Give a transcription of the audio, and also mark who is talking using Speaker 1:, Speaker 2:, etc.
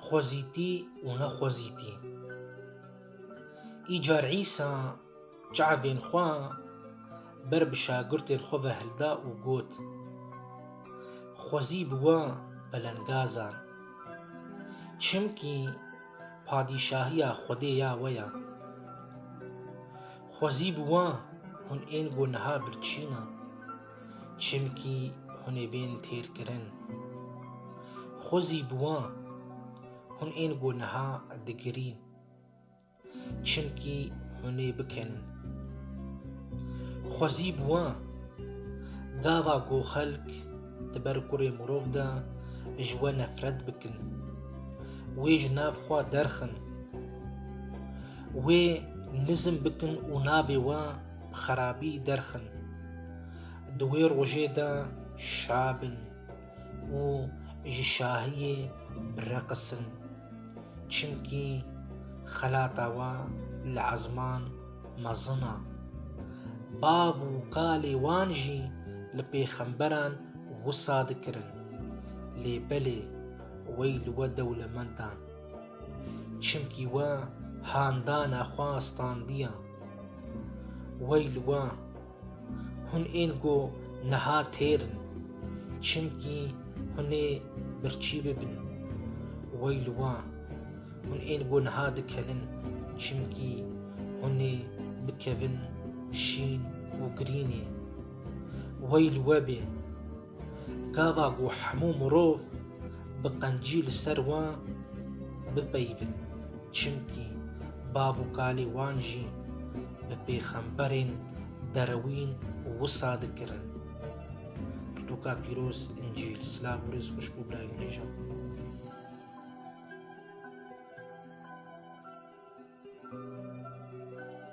Speaker 1: Xwezîtî û nexwezîtî. Îcar Îsa çavên xwe ber bi şagirtên xwe ve hilda û got, Xwezî bi we belengazan. Çimkî padîşahiya Xwedê ya we ye. Xwezî bi we hûn ên ku niha birçîn e. Çimkî hûn ê bên têrkirin. Xwe zî bi wan hûn ên ku niha digirîn. Çimkî hûn ê bikenin. Xwe zî bi wan gava ku xelk di ber kurê mirov de ji we nefret bikin. Wê ji nav xwe derxin. Wê nizm bikin û navê we bi xerabî derxin. Di wê rojê de şa bin û ji şahiyê bireqisin. Çimkî xelata we li ezman mezin e. Bav û kalê wan jî li pêxemberan wisa dikirin. Lê belê wey li we dewlemendan. Çimkî we handana xwe standiya. Wey li we! Hûn ên ku niha têr in, çimkî hûn ê birçî bibin. Wey li we! Hûn ên ku niha dikevin, çimkî hûn ê bikevin şîn û grînê. Wey li we bê! Gava ku hemû mirov bi qencî li ser wan bipeyivin, çimkî bav û kalê wan jî bi pêxemberên derewîn wisa dikirin. Pirtûka pîroz Încîl Silav û rêz xweş bo birayên hêja.